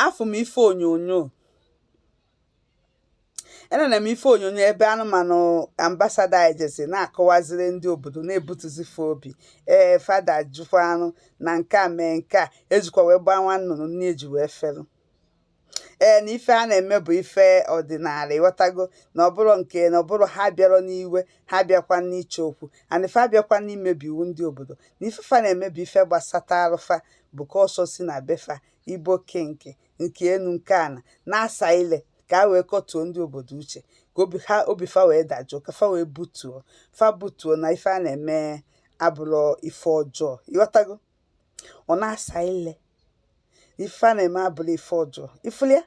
afụ m ife onyonyo enene m ife onyonyo ebe anụmanụ ambasada anyị jezi na-akọwaziri ndị obodo na-ebutuzi fa obi ee fa dajụkwa arụ na nke a mee nke a ejikwa wee gbaa nwa nnụnụ nne eji wee fere ee na ife a na-eme bụ ife ọdịnala ị ghọtago na ọ bụrọ nke na ọ bụrọ ha bịarọ n'iwe ha bịakwa n'ịchọ okwu ana ife abịakwa n'imebi iwu ndị obodo na ife fa na-eme bụ ife gbasata arụ fa bụkwa ọsọ si na be fa igbo king nke enu nke ana na-asa ile ka a wee kọtuo ndị obodo uche ka obi ha obi fa wee dajụọ ka fa wee butuo fa butuo na ife a na-eme abụrọ ife ọjọọ ị ghọtago ọ na-asa ile ife a na-eme abụrọ ife ọjọọ ị fụlụ ya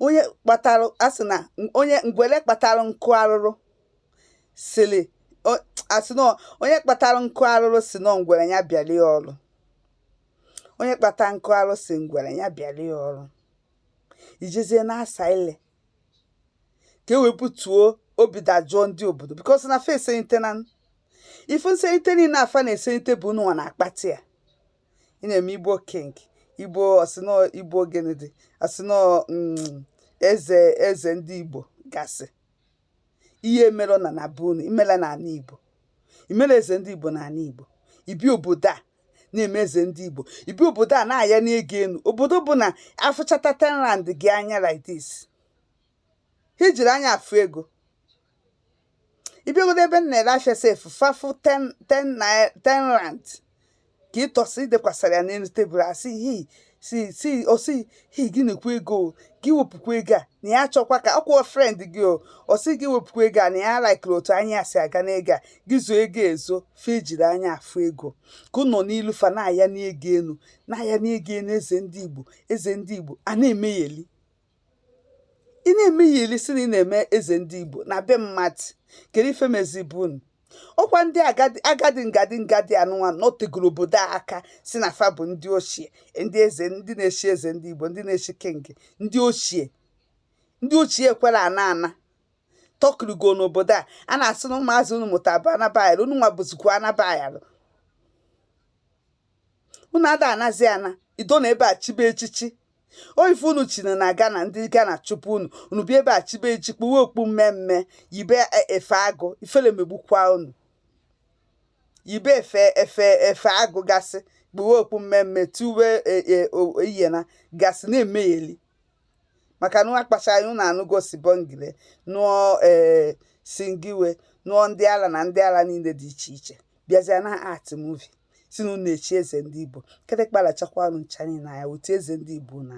onye kpatara asị na onye ngwere kpatara nkụ arụrụ siri asị na onye kpatara nkụ arụrụ si na ngwere ya bịara ya ọrụ onye kpata nkụ arụrụ si ngwere ya bịara ya ọrụ i jezie na-asa ile ka e wee butuo obi dajụọ ndị obodo because na fa eselite na ife nselite niile afa na-eselite bụ unu nwa na-akpata ya ị na-eme igbo king igbo ọ sị na ọ igbo gịnịdị a sị na ọ mm, eze eze ndị igbo gasị ihe mere na na be unu imela na ala igbo imela eze ndị igbo na ala igbo i bi obodo a na-eme eze ndị igbo i bi obodo a na-ayani ego elu obodo bụ na a fụchata 10 rand gị anya like this ha ejirọ anya afụ ego ị bịagodo ebe m na-ere afịa sef fa fụ 10 10 naira 10 rand ka ị tọsị i dekwasara ya n'elu tebụl asị hi si si ọ sị hi gị nekwa ego o, gị wepụkwa ego a na ya chọkwa ka ọkwụọ friend gị o ọ sị gị wepụkwa ego a na ya likerọ otu anya si aga n'ego a gị zoo ego ezo fa ejirọ anya afụ ego ka unu nọ n'iru fa na-ayani ego enu na-ayani ego enu eze ndị igbo eze ndị igbo a na-emegheli ị na-emegheli sị na ị na-eme eze ndị igbo na be mmadụ kedu ife mezibu unu ọkwa ndị agadi ngadi ngadi anụnwa nọtegoro obodo a aka sị na fa bụ ndị ochie ndị eze ndị na-echi eze ndị igbo ndị na-echi king ndị ochie ndị ochie kwere ana anọkirigo n'obodo a a na-asị na ụmụazị unu mụta bụ anabayalụ unu nwa bụzikwa anabayalụ unu ada anazi ana igbo nọ ebe a chibe echichi ọ ife unu chiri na ghana ndị ghana chụpụ unu unu bịa ebe a chibe echichi kpuwe okpu mmee mmee yibe e, efe agụ ifere megbukwa unu yibe efe efe efe agụ gasị kpuwe okpu mmee mmee tiwe e, e, o- iyena gasị na-emegheli maka na akpacha anyị unu anụgo sibongile nụọ ee singiwe nụọ ndị ala na ndị ala niile dị iche iche bịazịa na-act movie si na unu echi eze ndị igbo kịtịkpa rachakwa unu ncha niile anya otu eze ndị igbo na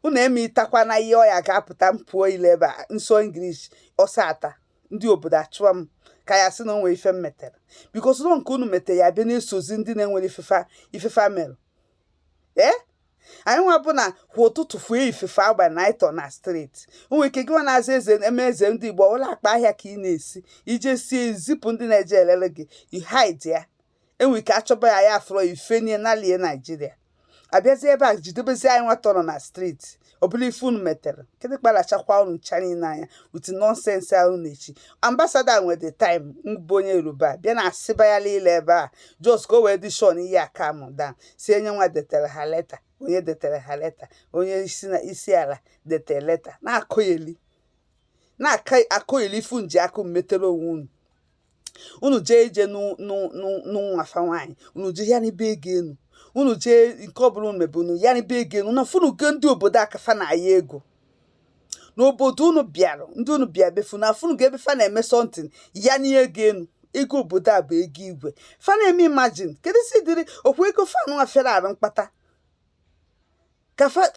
unu eme itakwa na ihe ọya ga-apụta mpụọ ile ebe a nso English ọsọ ata ndị obodo achụwa m ka ya sị na o nwe ife m metere because ụlọ nke unu metere ya bịa na-esozi ndị na-enwerọ ife fa ife fa mere ee anyị nwa bụ na kwa ụtụtụ fue ifefe agba na ịtọ na state o nwe ike gị nwa na-aza eze eme eze ndị igbo ọla akpa ahịa ka ị na-esi ije sie zipụ ndị na-eje elele gị you hide ya e nwe ike achọba ya ya afọrọ ifenye nalie naijiria abịazie ebe a jidebezi anyị nwata nọ na street ọbụla ife unu metere kịtịkpa rachakwa unu ncha niile anya ụdị nonsense ahụ na-echi ambassador nwe the time mbụ onye yoruba bịa na asịba ya niile ebe a just ka o wee dị shon ihe a calm down sị onye nwa detere ha leta onye detere ha leta onye isi na isi ala detere leta na-akọgheli na-akọgheli ife unu ji aka unu metere onwe unu unu jee ije ịnụ nwa fa nwaanyị unu jee yanibe ego enu unu jee nke ọbụla unu mebe unu yanibe ego enu unu afụnugo ndị obodo a ka fa na-aya ego n'obodo unu bịara ndị unu bịa be fa unu afụnugo ebe fa na-eme something yanie ego enu ego obodo a bụ ego igwe fa na-eme imagine keduzi ụdịrị okwu ego fa unu afere arụ mkpata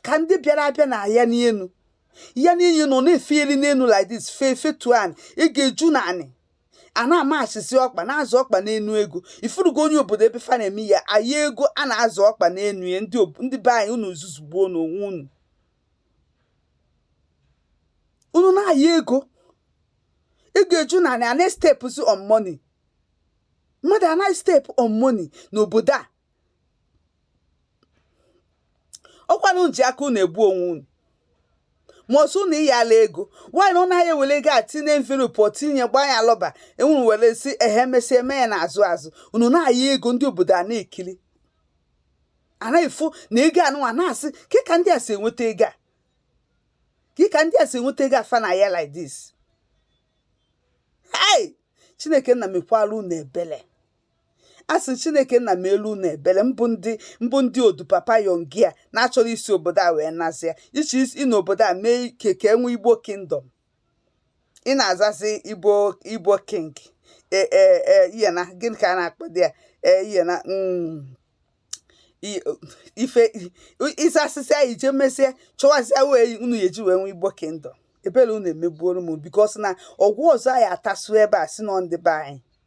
ka ndị bịara abịa na-aya n'elu yanie enu ọ na-efe elu n'elu like this fee fetu anị ọ ga-eju n'anị a na-amachizi ọkpa na-azọ ọkpa n'enu ego ị fụrụgo onye obodo ebe fa na-eme ya aya ego a na-azọ ọkpa n'enu ya ndị be anyị unu ezuzugbuona onwe unu unu na-aya ego ọ ga-eju n'anị a na-estepụzi on money mmadụ anaghị step on money n'obodo a ọ kwanụ unu ji aka unu egbu onwe unu ma ọ sọ unu iyalụ ego nwaanyị ọ naghị ewere ego a tinye envelope ọ tinye gbaa ya lọba ewuru were si ehe emesịa enye ya n'azụ azụ unu na-aya ego ndị obodo a na-ekiri a na-efu na ego anụnwa na-asị ke ka ndị a si enweta ego a ke ka ndị a si enweta ego a fa na-aya like this hey chineke nna mekwara unu ebele a sị chineke nna melu unu ebele mbụ ndị mbụ ndị old papa youngy a na-achọrọ isi obodo a wee nasị ya iche ịna obodo a mee ike ka e nwee igbo kingdom ị na-azazi igbo igbo king ee e, e, ihe na gịnị ka a na-akpọdị ya ee ihe na mm, ife ịza asịsị anyị jee mesie chọwazịa wee unu ya eji wee nwee igbo kingdom ebere unu emegbuola m because na ọgwụ ọzọ anyị atasu ebe a si nọ ndị be anyị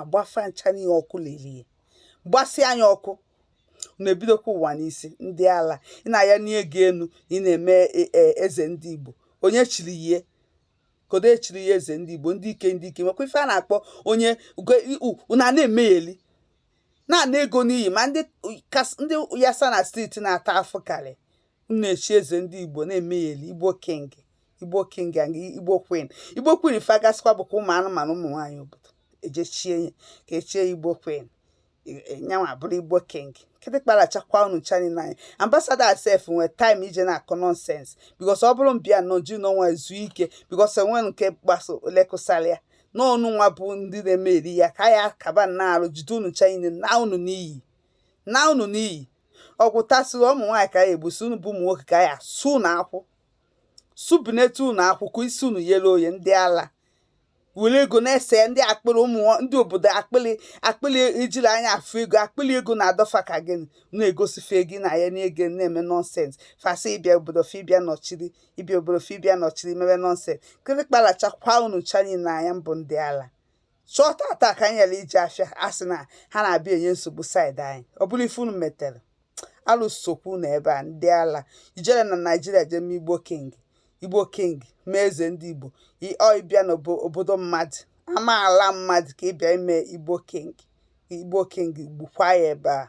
agba fa ncha niile ọkụ lere ya gbasịa ya ọkụ na-ebidokwa ụwa n'isi ndị ala ị na-aya n'ihe gị enu ị na-eme e, e, eze ndị Igbo onye chiri ihe kedu echiri ya eze ndị Igbo ndị ike ndị ike nwekwa ife a na-akpọ onye na na-emegheli na-ana ego n'iyi ma ndị yasa na street na-ata afụ karị unu echi eze ndị igbo na-emegheli igbo king igbo king and igbo queen igbo queen ife agasịkwa bụ ka ụmụ anụmanụ ụmụ nwaanyị obodo ejechie ya ka echie ya igbo queen nyanwa bụrụ igbo king kịtịkpa rachakwa unu ncha niile n'anya ambasada asef nwee taịm ije na-akọ nọnsens bikos ọ bụrụ m bịa nọdụ n'ọnwa zuo ike bikos enwe nke gbasa lekụsara ya na unu nwa bụ ndị na-eme ọrịa ka ya kaba n'arụ jide unu ncha niile naa unu n'iyi naa unu n'iyi o gbutasịrị ụmụ nwaanyị ka ya egbusi unu bụ ụmụ nwoke ka ya su unu akwụ subinete unu akwụ ka isi unu yere oye ndị ala were ego na-ese ndị akpịrị ụmụ ndị obodo akpịrị akpịrị ijiri anya afụ ego akpịrị ego na-adọ fa ka gị na-egosi fa ego na ya n'ego na-eme nọnsens fa sị ịbịa obodo fa ịbịa nọchiri ịbịa obodo fa ịbịa nọchiri mebe nọnsens kịtịkpa lachakwa unu ncha niile n'anya unu bụ ndị ala so tata ka anyị ghara ije afịa a sị na ha na-abịa enye nsogbu saịdị anyị ọ bụrụ ife unu metere alụso okwu na ebe a ndị ala ijere na naijiria jee mee igbo king igbo king mee eze ndị igbo i- ọ ịbịa n'obodo mmadụ ama ala mmadụ ka ịbịa ime igbo king igbo king gbukwa ya ebe a